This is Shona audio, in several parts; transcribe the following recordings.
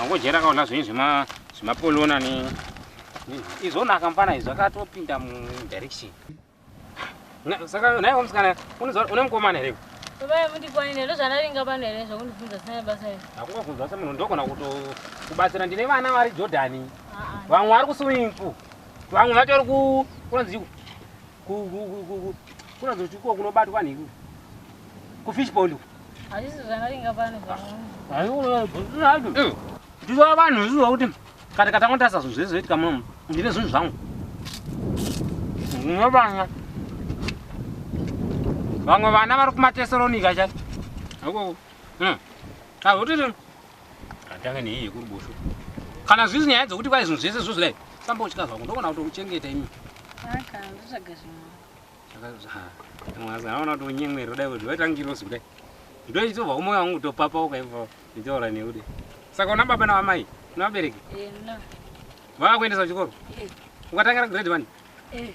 angojera kaona zvinyi zvimapolona ne izvonaka mfana izvo akatopinda mudirection saka naiwo musikana une mukomana here Baba mundikwanire ndozvanaringa pano here zvokundibvunza sina basa iri. Hakungabvunza se munhu ndogona kuto kubatsira ndine vana vari Jordan. Vamwe vari ku swimming pool. Vamwe vatori ku kunzi kuratidza kuti iko kunobatwa nekuti kufish pond uku hazvisi zvakaringa pano ndizova vanhu zviziva kuti kana katanga tasa zvinhu zvese zvoitika munomu ndine zvinhu zvangu ndine vana vamwe vana vari kumatesaronika cha akoko hmm. hazvotiti Atanga nei yekuruboshwe. Kana zvizi nyaya dzokuti kwai zvinhu zvese zvo zvidai famba uchika zvangu ndogona kutokuchengeta imi. Aka ndotsvaga zvimwe. Mwazaona kuti unyemweri kudai kuti waita ngirosi kudai. Ndoitova umoyo wangu kutopapa ukaibva nditaura newe dai. Saka una baba na amai? Una vabereki? Eh, na. Vava kuendesa kuchikoro? Eh. Ukatangira grade 1? Eh.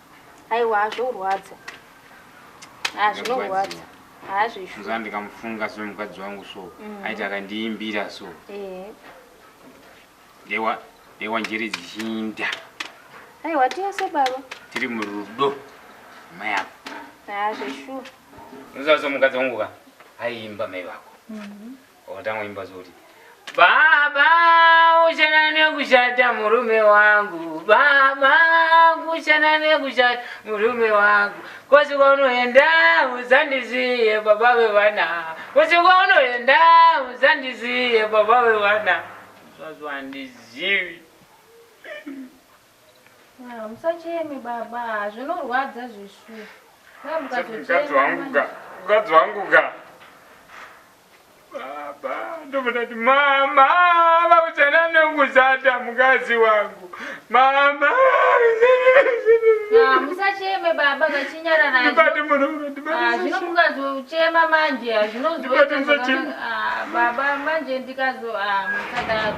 Aiwa zvorwadza. Ah zvinorwadza. Ah zvishu. Muzana ndikamufunga so mukadzi wangu so. Mm. Aita akandiimbira so. Eh. Dewa dewa njere dzichinda. Aiwa tese baba. Tiri murudo. Mai apo. Ah zvishu. Muzana so mukadzi wangu ka. Aiimba mai vako. Mhm. Mm Wakatanga imba zoti. Baba uchana nekushata murume wangu baba kuchana nekushata murume wangu kosi kwaunoenda uzandiziye baba vevana kosi kwaunoenda uzandiziye baba vevana zvazo handizivi Musacheme baba, zvinorwadza zvishu. Mukadzi wangu ga, mukadzi wangu ga. Baba, ndokuda kuti mama, vakuchana nekuzata mukadzi wangu. Mama. Musacheme baba, vachinyara naye. Ndibate murume, ndibate. Ah, zvino mukadzi uchema manje, zvinozoita. Ndibate musacheme. Ah, baba manje ndikazo ah, musadaro.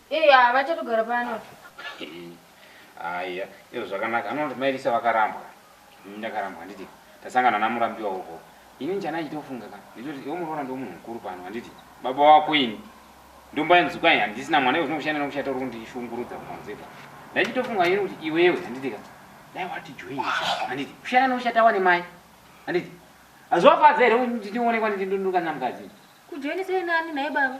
Hey, ah, vachatogara pano. Aya, iyo zvakanaka. Anoti mai Lisa vakarambwa. Mimi ndakarambwa handiti. Tasangana namurambiwa huko. Ini njana achitofunga ka. Nditoti iwe muroora ndo munhu mukuru pano handiti. Baba wako ini. Ndomba nzuka yani handisina mwana iwe zvinokushanda nokushata uri kundishungurudza kumanzeta. Ndachitofunga ini kuti iwewe handiti ka. Dai wati join handiti. Kushanda nokushata wane mai. Handiti. Azwafadza here kuti ndionekwa ndindonduka namukadzi. Kujoinisa nani naye baba?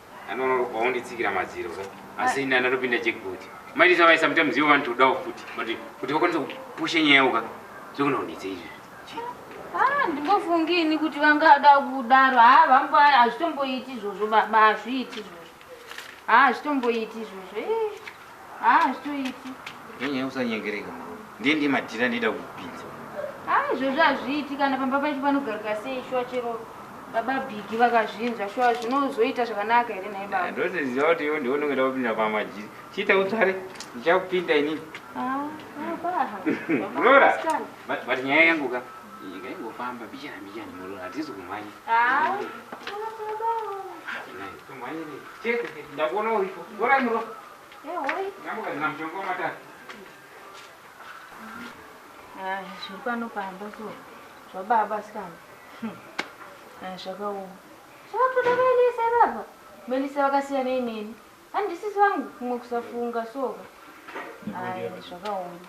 Anobva unditsikira madziro ka. Asi ini anatopinda jackpot. Maiti savaye sometimes ivo vanotodawo futi. But kuti vakwanise kupusha nyaya yavo ka. Zvekuda kunditsa izvi. Ah, ndingofungi ini kuti vangada kudaro. Haa vambo hazvitomboiti izvozvo baba hazviiti izvozvo. Haa hazvitomboiti izvozvo. Eh. Haa hazvitoiti. Nyenyaya usanyengereka mama. Ndiye ndiye madhira ndida kupinza. Haa izvozvo hazviiti kana pamba pacho panogaruka sei shuwa chero baba bhigi vakazvinzwa shuwa zvinozoita zvakanaka here nhai baba. Ndotoziva kuti iwe ndiwe unenge ndakupinda pamajiri. Chiita utsvare ndichakupinda ini. Haa baba. Flora. But nyaya yangu ka ingangofamba bichana bichana murora hatizi kumhanya. Haa. zviri pano pamba so zvababa sikana hmm. zvakaoma zvakatoda melisa baba melisa vakasiyana ineni handisisi vangu kumwe kusafunga soka ai zvakaoma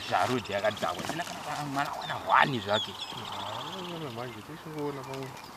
zvarudi yakadhakwa sina kana mwana wana hwani zvake manje tisingoona pamwe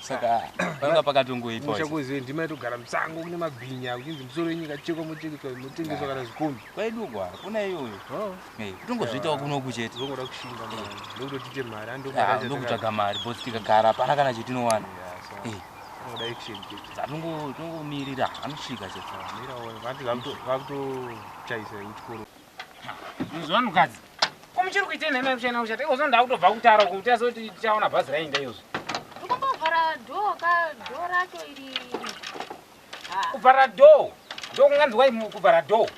saka panga pakatongoipa musha kuziva ndima yatogara musango kune mabhinya kuchinzi musoro wenyika chekwa mochekeswa motengeswa kana zvikombi kwaidugwa kuna iyoyo oh. tongozviitawo kuno kuchete zongoda kushinga ndokutotite mari andokutsvaga mari bos tikagara hapana kana chetinowana atongomirira anosvika chete vakutochaisa kuchikoro Muzwa mukadzi. Ko muchiri kuita nhema yekushana kushata. Ikozvo ndakutobva kutara uko kuti azoti tichaona bhazi rainda iyozvo. Ndikambovhara door ka door racho iri. Ah. Kuvhara door. Ndokunganzwa kuvhara door.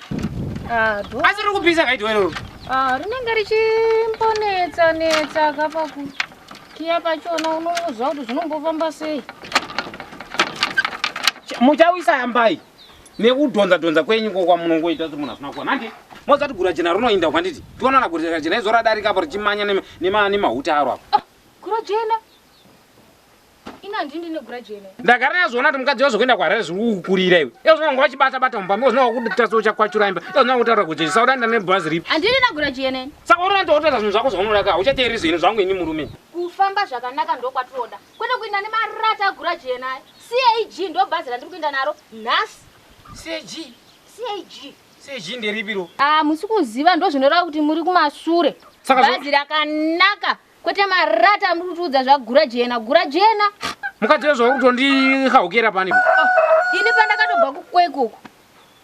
Ah, door. Asi riri kupisa kaito iroro. Ah, rinenge richimbonetsa netsa kapa ku. Kia pachona unozwa kuti zvinombofamba sei. Muchawisa yambai. nekudhonza dhonza kwenyu ko kwamunongoita kuti munhu asina kuwana handi mozati gura jena rinoinda kwanditi tionana gura jena izo radarika apo richimanya nemahuta aro apo ah, gura jena ndagara yazviona kuti mukadzi wazvokuenda kwarere zviri kukurira iwe ezvona wanga wachibata bata mumba mi wazvona wakuditasa uchakwachura imba ezvona wakutaura kuti jisaura ndane bhazi ripi handiri nagura jene saka unoona kuti wakutoita zvinhu zvako zvaunoda ka uchateereri zvinhu zvangu ini murume kufamba zvakanaka ndokwatinoda Kwete kuinda nemarata agura jena aya. CAG ndo bhazi randiri kuinda naro nhasi. CAG? CAG. CAG nderipi ro? Ah, musi kuziva ndo zvinoreva kuti muri kumasure. Saka bhazi rakanaka kwete marata amuri kutiudza zvagura jena gura jena. Mukadzi wezvo uri kutondihaukira pani. Oh, ini pandakatobva kukwekuku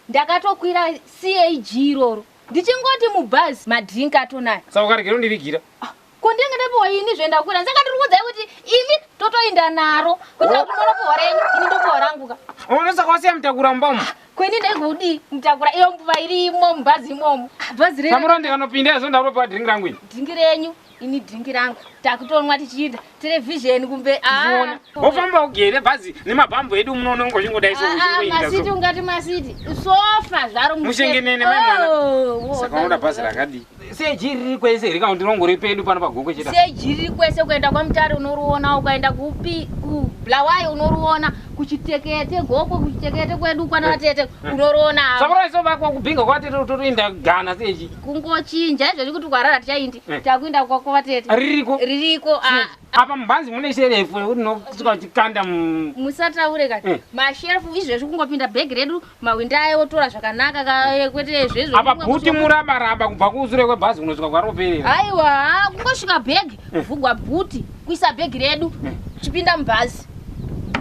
ndakatokwira CAG iroro ndichingoti mubhazi madrink atonaya. Saka ukaregera undivigira. Ah. Ko ndenge ndapiwa ini zve ndakwira saka ndiri kuudzai kuti imi totoinda naro kuti akunoona piwa renyu ini ndopiwa rangu ka unoona saka wasiya mutakura mumba umu kweni ndegudi mutakura iyo mbuva irimo mubhazi imomo bhazi renyu samura ndikanopinda izvo ndaropiwa dhingi rangu ini dhingi renyu ini dhingi rangu takutonwa tichiita televhizheni kumbe ah. wofamba ugere bhazi nemabhambo edu munoona ungozvingodai ah, ah, masiti ungati masiti sofa zvaro mushengenene maimwana oh, saka unoda bhazi rakadii seji riri kwese here kana kuti rongori pedu pano pagokwe chete seji riri kwese kuenda kwamutare unoriona ukaenda kupi kublawayi unoriona kuchitekete gokwe kuchitekete kwedu kwana eh, vatete eh. unoriona sakuraisobakwa kubhinga kwatete totoinda gana seji kungochinja izvozvi kuti kwarara tichaindi eh. takuinda kwako vatete ririko ririko ah. apa mubhanzi mune sherefu rinosuka chikanda musataure ka masherefu izvezvi kungopinda bhegi redu mahwindi aye otora zvakanaka kaye kwete zvezvo apa bhuti muraba raba kubva kusure kwebhazi kunosvika kwaroperera haiwa kungosvika bhegi kuvhugwa bhuti kuisa bhegi redu chipinda mubhazi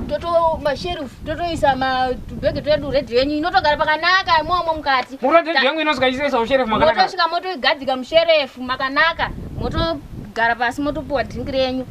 toto masherufu totoisa matubhege twedu redhi yenyu inotogara pakanaka imomo mukati muredhi yengu inosvika ichisaisa musherefu makanaka motosvika motoigadzika musherefu makanaka motogara pasi motopiwa dhingi renyu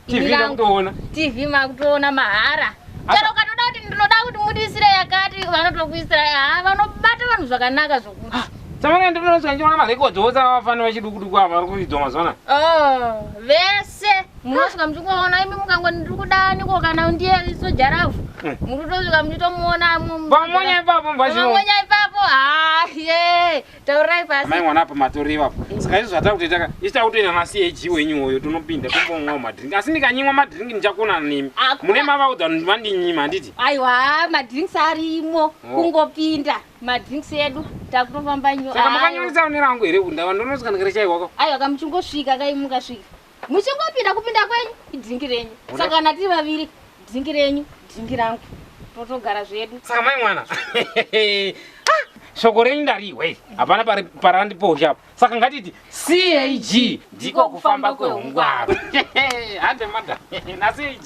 TV ndakutoona. TV makutoona mahara. Chero ukatoda kuti ndinoda kuti mudisire yakati vanotokuisira haa vanobata vanhu zvakanaka zvokuti. Ah, Samana ndinoona ndiona marecords wose avafana vachidukuduku ava vari kuidzwa mazona. Oh, vese munosvika muchikuona imi mukangwa ndiri kudani ko kana ndiye soja ravo. Eh. Muri kutosvika muchitomuona. Pamonya ipapo mbazvino. Pamonya ipapo. Ah, yeah. taurai pasi amai mwana apa matori ivapo mm. saka izvo zvatakutoita ka isi takutoenda nacag wenyu uyo tonopinda tombonwawo madrink asi ndikanyimwa madrink ndichakonana nemi mune mavaudza kuti vandinyima handiti aiwa madrinks arimo oh. kungopinda madrinks edu takutofamba nyo saka makanyonisa une rangu here kuti ndava ndonozikana kare chaiwako aiwa kamuchingosvika kaimukasvika muchingopinda kupinda kwenyu idhingi renyu saka kana tiri vaviri dhingi renyu dhingi rangu totogara zvedu saka mai mwana ah, shoko renyu ndarihwe hapana parandiposha apo saka ngatiti cag ndiko kufamba kwehungwaro hande mada nacag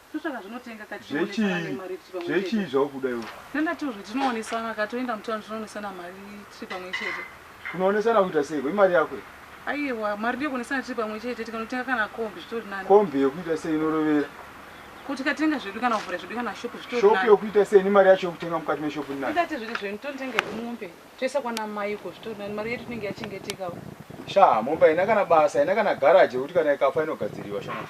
Totsvaka zvinotenga ka tichionesana nemari rich pamwe chete. Zvechi zvakuda iwe. Nenda tozvi tinoonesana ka toenda mutown tinoonesana mari tiri pamwe chete. Kunoonesana kuita sei? Imari yako iyi. Aiwa mari ndiyo kuonesana tiri pamwe chete tikanotenga kana kombi zvitori nani. Kombi yekuita sei inorovera? Ko tikatenga zvedu kana kuvhura zvedu kana shop zvitori nani. Shop yekuita sei nemari yacho yekutenga mukati meshop nani? Nenda tezviri zvenyu tonotenga mombe toisa kwana mai uko zvitori nani mari yedu tinenge yachengeteka. Shaa mombe haina kana basa haina kana garage yekuti kana ikafa inogadziriwa shaa.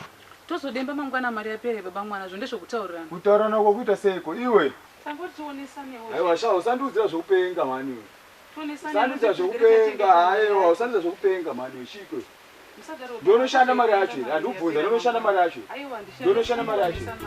Tozodemba mangwana mari yapere baba mwana zvo ndezvokutaurirana. Kutaurana uko kuita seiko iwe? Tamboti tionesanewo zve. Haiwa sha usandiudzira zvekupenga mhani iwe. Tionesanewo Usandiudzira zve tigere zvekupenga tatengesa mari haiwa yacho. usandiudzira zvekupenga mhani iwe chiiko ichi? Musadaro baba Ndonoshanda mari yacho here? Handikubvunza ndonoshanda mari yacho here? Aiwa handishandi Ndonoshanda mari yacho here?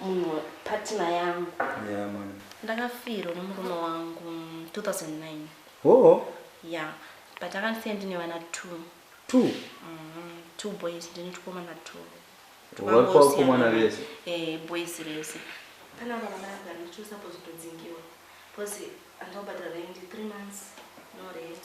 munhu partner yangu yeah man ndakafirwa nemurume wangu 2009 oh yeah but akandisiya ndine vana two two mm, two boys ndine tukomana two tukakomana vese eh boys vese pana vana vana ndicho suppose kudzingiwa because andobhadhara rent 3 months no rent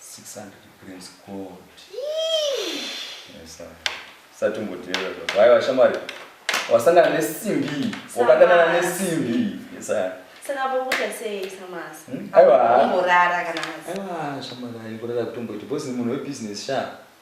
600 grams gold. Yes, sir. Satumboteera zvo. Why washamwari? Wasangana nesimbi. Wakadanana nesimbi. Yes, sir. Saka pokuta sei samasi? Hmm? Aiwa. Ngorara kana masi. Aiwa, shamwari, ngorara kutomboita. Boss ni munhu webusiness sha.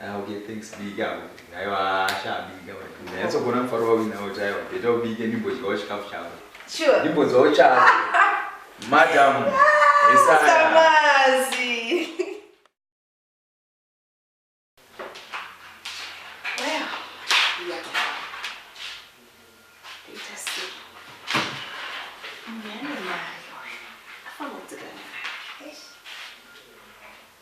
Ah, okay, thanks bika. Aiwa asha bika. Ndayatsogona mufaro wawo nawo chaiwa. Beta ubike ndimbodyawo chikafu chavo. Sure. Ndimbodyawo chavo. Madam. Samazi.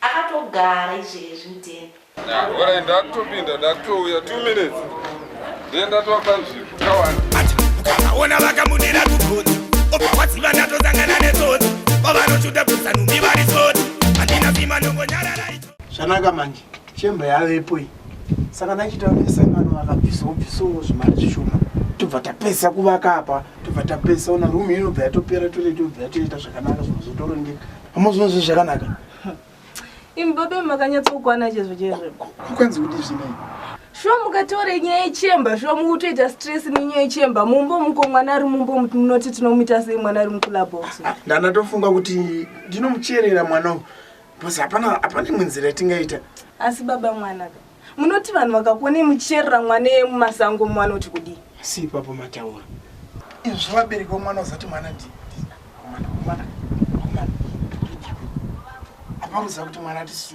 akatogara izvezvi mudheni orai ndakutopinda ndakutouya two minutes ndiye ndatova panzvimbo kawani ati ukavaona vakamudira kugoti obva waziva ndatosangana netsotsi vavanochuda kusanumi vari tsotsi handina sima ndongonyarara icho zvanaka manje chemba yavepo iyi saka ndachitaura nesangano vakabvisawo bvisawo zvimari zvishoma tobva tapesa kuvaka apa tobva tapesa ona rumu inobva yatopera toletobva yatoita zvakanaka zvinozotorongeka Amazvino zvinhu zvakanaka. Imi baba makanyatsokwana chezvo chezvo. Kukwanzi kuti zvinei? Shuwa mukatore nyaya yechemba, shuwa mukutoita stress nenyaya yechemba. Mumbo muko mwana ari mumbo munoti tinomuita sei mwana ari mukula box. Ah, Ndana tofunga kuti ndinomucherera mwana uyu. Bhozi hapana hapana imwe nzira yatingaita. Asi baba mwana ka. munoti vanhu vakakuonei muchicherera mwana iye mumasango muvanoti kudii si ipapo mataura izvi vabereki vomwana uzati mwana ndi mwana mwana mwana apa muziva kuti mwana tisi